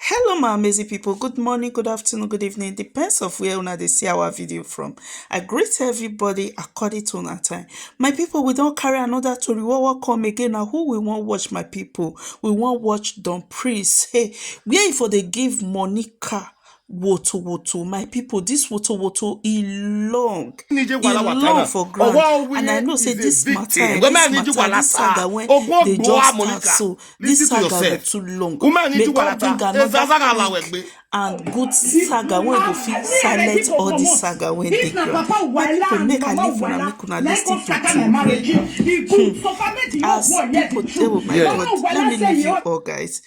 Hello my amazing people, good morning, good afternoon, good evening, depends of where una dey see our video from. I greet everybody according to una time. My people, we don carry another tori wey wan come again na who we wan watch my people. We wan watch Don Prince, hey, where e for dey give Monica wotowoto my people this wotowoto e long e long for ground and i know say this matter eh, this matter this saga wey dey just start so this saga go too long may god bring another king and good saga wey go fit silent all the saga wey dey ground my people make i leave una make una lis ten to two hmm. as people table my god let me leave you all guys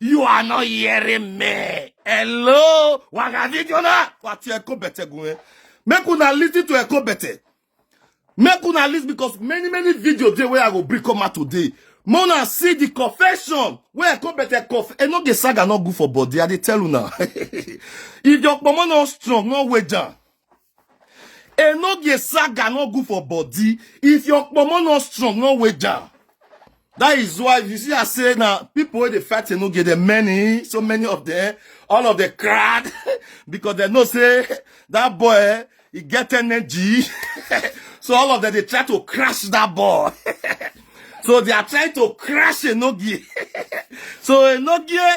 You are not hearing me. Hello, Wagavidiona. What you echo better going? Make una listen to echo better. Make una listen because many many videos dey where I go bring come out today. Mona see the confession where echo better cough. E no get saga no good for body. I dey tell una. if your pomo no strong, no wager. Enogie saga no good for body. If your pomo not strong, no way down. That is why you see I say now people wey dey fight Enogie, there many, so many of them, all of the crowd, because they know say that boy eh, he get energy. so all of them they try to crash that boy. so they are trying to crash Enogie. so Enogie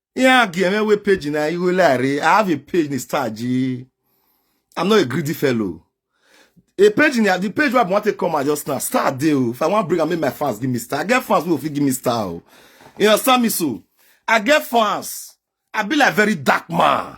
ihe a ga-emewe peji na ihu larị I have a page na star ji I'm not a greedy fellow a page in the page where I want to come and just now star dey o if I wan bring am make my fans give me star I get fans wey go fit give me star o you understand me so I get fans I be like very dark man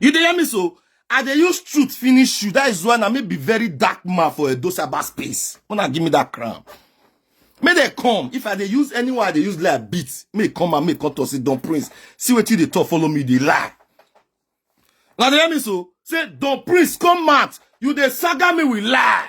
You dey hear me so? I dey use truth finish you. That is why na me be very dark man for Edo cyber space. Una give me that crown. Make they come. If I dey use anyone, I dey use like beat. Make e come and make e come to say Don Prince. See what you dey talk, follow me, they lie. Now they hear me so. Say Don Prince come out. You dey saga me with lie.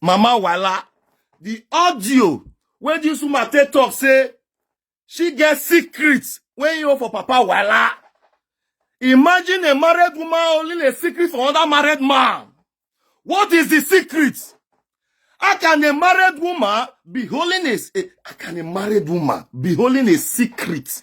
mama wala the audio wey this woman take talk say she get secret wey you for papa wala imagine a married woman holding a secret for another married man what is the secret how can a married woman be holding a, a how can a married woman be holding a secret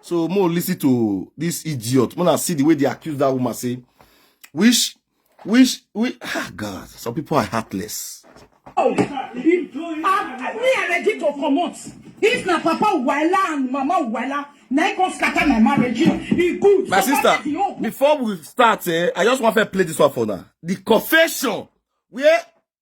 So more listen to this idiot. When I see the way they accuse that woman, say, wish, wish, wish, ah, God, some people are heartless. Oh, me, I ready to come out. If na papa Wala and mama Wala, na go scatter my marriage. He good. My sister, before we start, eh, I just want to play this one for now. The confession where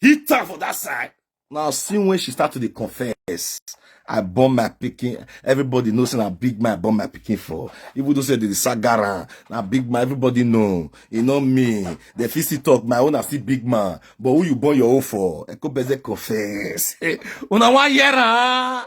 hit her for that side. Now, see when she start to confess, I bomb my picking. Everybody knows and I big my bomb my picking for. Even though say the Sagara, now big man, everybody know. You know me. The fisty talk, my own I see big man. But who you born your own for? I go better confess. Una one year,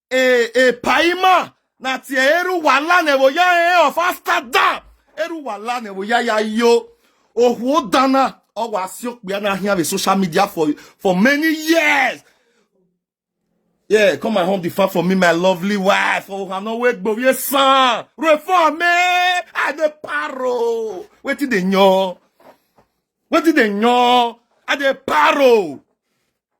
e e paima na ti eru wala ne bo ya e of after that eru wala ne bo ya ya yo ohwo dana owo asiokpe na here be social media for for many years yeah come and home the far for me my lovely wife oh i'm not wait but yes son reform me i dey paro wetin dey yan wetin dey yan i dey paro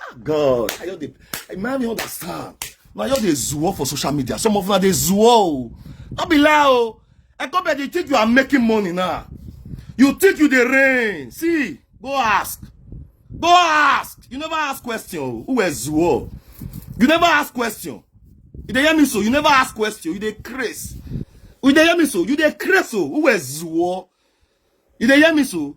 ah god i just dey i man no understand na just dey zuo for social media some of una dey zuo o no be lie o ekobe dey think you are making money now you think you dey rain see go ask go ask you never ask question o who were zuo you never ask question you dey hear me so you never ask question you dey craze you dey hear me so you dey craze o who were zuo you dey hear me so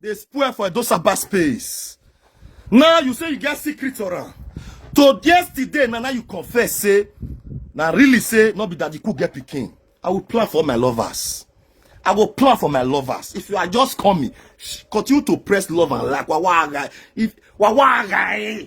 dey spoil for edosaba space now you say you get secret for am to yesterday na now you confess say na really say no be daddy cook get pikin i will plan for my lovers i go plan for my lovers if you are just coming sh- continue to press love and like wawaga if wawaga eh.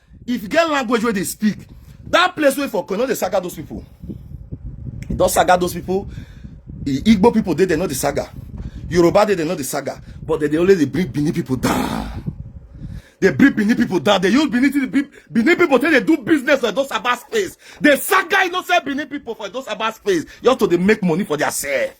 if you get language wey dey speak that place wey for no dey saga those people e don saga those people igbo people dey there no dey saga yoruba dey there no dey saga but dem dey only dey bring benin people down dey bring benin people down dey use benin people benin people take dey do business for those about space dey saga innocent benin people for those about space just to dey make money for their self.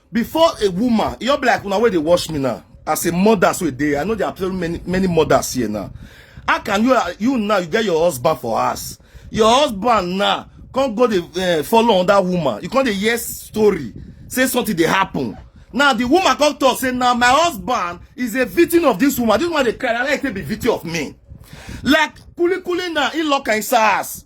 before a woman e just be like una wey dey watch me now as a mother so e dey i know there are very many many mothers here now how can you you now you get your husband for house your husband now come go dey uh, follow another woman you come dey hear story say something dey happen now the woman come talk say now my husband is a victim of this woman this woman dey cry na like say be victim of me like kulikuli na e lock am inside house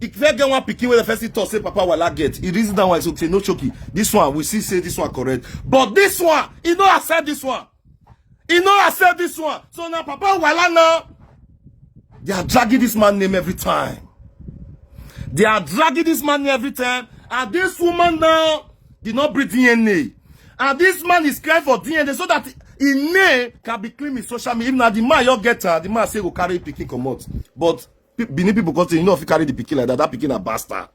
e first get one pikin wey dey first talk say papa wala get e reason that one so say no choki this one we see say this one correct but this one e no accept this one e no accept this one so na papa wala now they are dragging this man name every time they are dragging this man name every time and this woman now did not bring DNA and this man is crying for DNA so that him name can be clean in social media if na the man you get her the man say go carry pikin comot but Benin people come say you no fit carry the pikin like that. That pikin na bastard.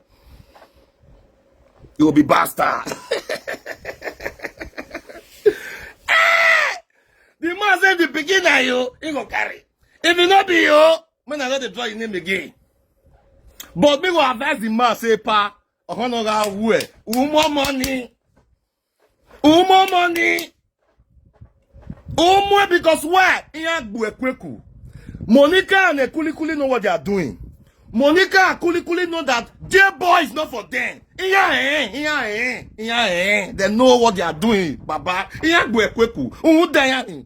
You will be bastard. Eh! the man say the pikin na you, he go carry. If e no be you, make I no dey draw your name again. But me go advise the man say pa, ọ̀hánà ra wú ẹ̀, wú mọ́ mọ́ ni. Umo money. Umo because why? Iya gbuekweku. Monica and Kulikuli know what they are doing. Monica and Kulikuli know that their boy is not for them. Iya eh, iya eh, iya eh. They know what they are doing, Baba. Iya gbuekweku. Umu dayani.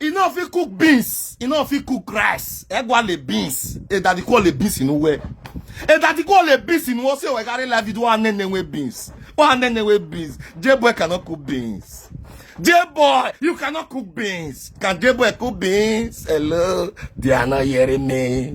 e no fit cook beans e no fit cook rice egwa le beans edadi ko le beans inu we edadi ko le beans inu o se we carry life video wa nene we beans wa nene we beans j boy cannot cook beans j boy you cannot cook beans can j boy cook beans hello they are not hearing me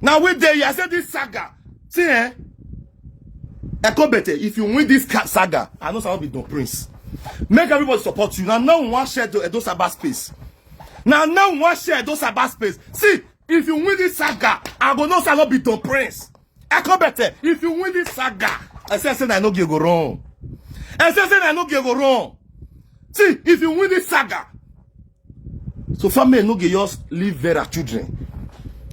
Now we there, I said this saga. See, eh? Ekobete, if you win this saga, I know someone be no prince. Make everybody support you. Now, no one share the Edo Sabah space. Now, no one share Edo Sabah space. See, if you win this saga, I go know someone be no prince. Akobete, if you win this saga, I say, I say, I no give go wrong. I say, I say, I no give go wrong. See, if you win this saga, so family no give yours leave Vera children.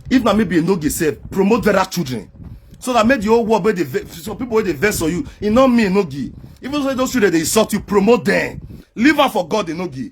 If na maybe no give save, promote Vera children. So that make the whole world, the, some people they vex for you. It not me no give. Even though those children they insult you, promote them. Leave her for God, they no give.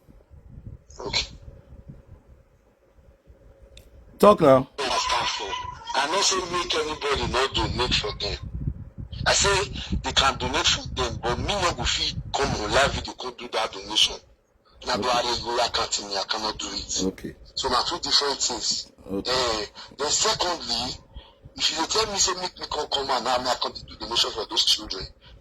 Okay. Talk now. I not say make anybody not donate for them. I say they can donate for them, but me not go fit come on live video go do that donation. Na okay. I go account me, I cannot do it. Okay. So na two different things. Okay. Uh, then secondly, if you tell me say make me come come and now I come do donation for those children,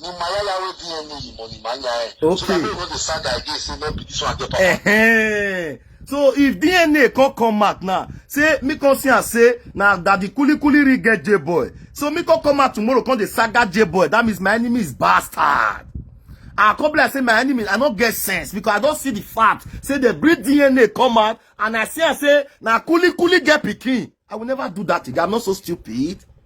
ni mayaya wey dna you money manya eh so Okay. that make no dey sad again say no be this one get papa Ehen. so if dna come come out now say me come see am say na daddy kulikuli ring get j boy so me come come out tomorrow come dey saga j boy that means my enemy is bastard i come be like say my enemy i no get sense because i don see the fact say they bring dna come out and i see am say na kulikuli get pikin i will never do that again i'm not so stupid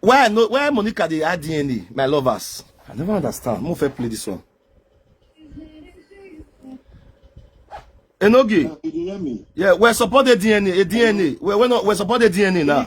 Why no? Why Monica dey add DNA? My lovers, I never understand. Mo fẹ́ play this one. Enoge. Uh, you hear me? Yeah, we're supporting DNA. A DNA. We're, we're not. We're supporting DNA now.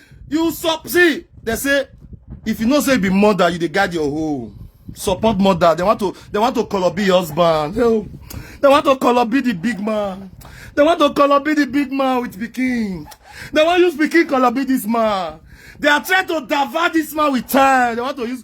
you sup see they say if you know say you be mother you dey guide your home support mother they want to they want to call up be your husband oh, they want to call up be the big man they want to call up be the big man with pikin they wan use pikin call up be this man they are trying to divert this man with time they want to use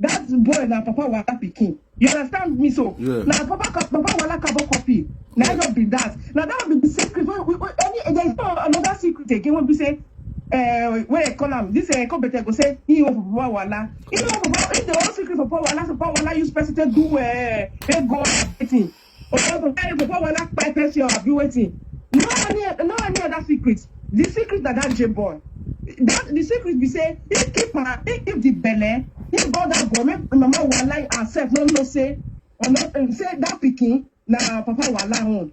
That boy na papa wala pikin. You understand me so? Yeah. Na papa ka- papa wala kabo copy. Na Yeah. just be that. Na that be the secret. Wey wey wey any there is no another secret again wey be say uh, wey dey call am this uh, competitor go say he wan for papa wala. He wan for papa if the whole secret for papa wala so papa wala use person take do uh, take go everything. Obodo Eric Okowola pepper shell abi wetin? No any no any other secret. The secret na that J boy. That the secret be say he keep her, he keep the belle, he go that boy make mama wahala herself no know say or no um, say that pikin na papa wahala own.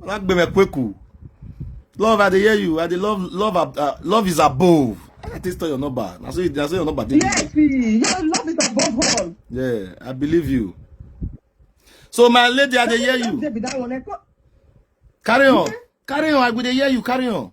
Má gbé mi kweku. Love, I dey hear you. I dey love, love, uh, love is above. I taste tell your number. I say, I say your number. Yes, your love is above all. Yeah, I believe you. So my lady, I dey hear you. Carry on, carry on. I go dey hear you. Carry on.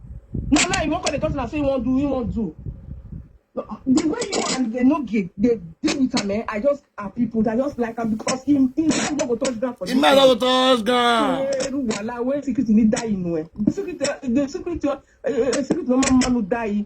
Now, now you won't call the person and say you won't do, you won't do. The way you and they no get they deal with him, eh? I just are people that just like him because him him man no go touch ground for this. Him man no go touch ground. Eru wala wey secret ni die inu eh. The secret the secret uh, secret no man man no die.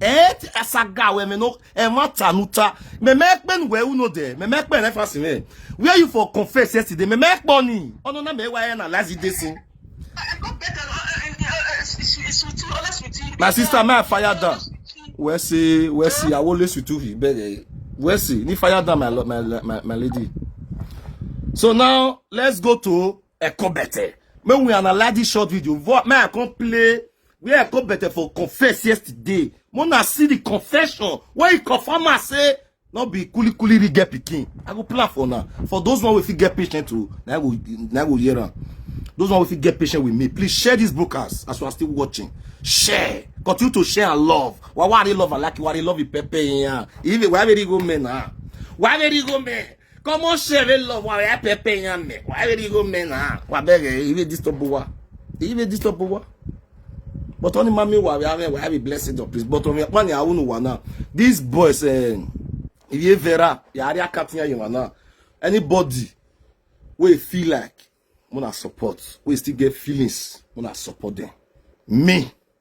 et asaga we me no e ma tanuta me me pen we uno de me me pen reference me where you for confess yesterday me me poni ono na me wa e na lazi de sin I got better. Uh, uh, uh, uh, it's, it's, it's with you, honest with you. my sister me fire down we say we say i will listen to him but eh, we say ni fire down my lo- my my, my lady so now let's go to Ekobete. When we analyze this short video, what man I can play where Ekobete for confess yesterday. When I see the confession, where he confirm I say, no be kuli kuli ri get pikin. I go plan for now. For those one we fit get patient to, now go now go hear am. Those one we fit get patient with me. Please share this broadcast as you are still watching. Share. Continue to share and love. Why why they love and like you? Why they love you, Pepe? Yeah. Even why very go men? Ah. Why very go men? Comment chérie love wa ya pepe ya me. Wa ri go me na. Wa bere iwe disturb wa. Iwe disturb wa. But only mommy wa ya me wa be blessed of please. But only one ya unu wa na. This boy say iwe vera ya ri akatin ya yin wa na. Anybody we feel like muna support. We still get feelings muna support them. Me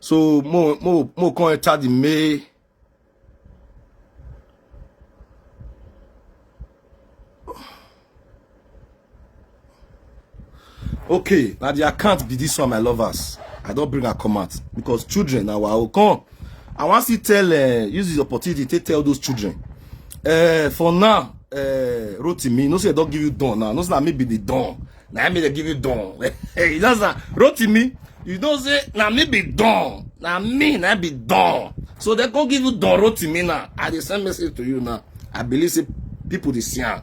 so mo mo mo come enter the mail okay na the account be this one my lovers i don bring her come out because children na our own come i wan still tell uh, use this opportunity take tell those children uh, for now uh, rotimi no say i don give you don now no say na me be the don na me dey give you don you know say rotimi you know say na me be don na me na be don so dem come give you don rotimi now i dey send message to you now i believe say people dey see am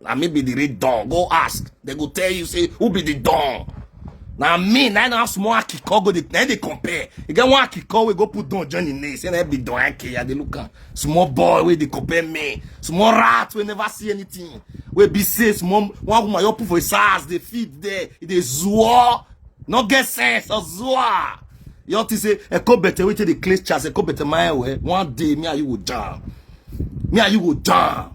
na me be the real don go ask they go tell you say who be the don na me na na small akiko go dey na dey compare e get one akiko wey go put don join him name say na be don ake i dey look am small boy wey dey compare me small rat wey never see anything wey be say small one woman just put for his ass dey feed there e dey zuo no get sense ozuo you all think say eko bete wey take dey clean chance eko bete my way one day me and you go jam me and you go jam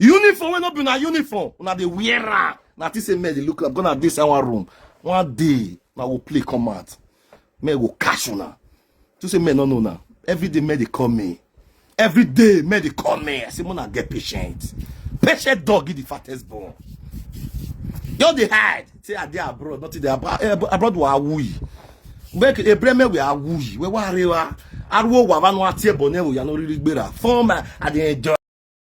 uniform wey no be una uniform una dey wear am na think say men dey look like gonna dey inside one room one day una go play come out men go catch una to say men no know una every day men dey call me every day men dey call me i say una get patient patient dog give the fattest born just dey hide say i dey abroad nothing dey abroad eh, abroad wa awuyi make ebreme we awuyi we wa arewa ariwo wa vanu ati ebo ne wo ya no riri gbera fun ma i dey enjoy.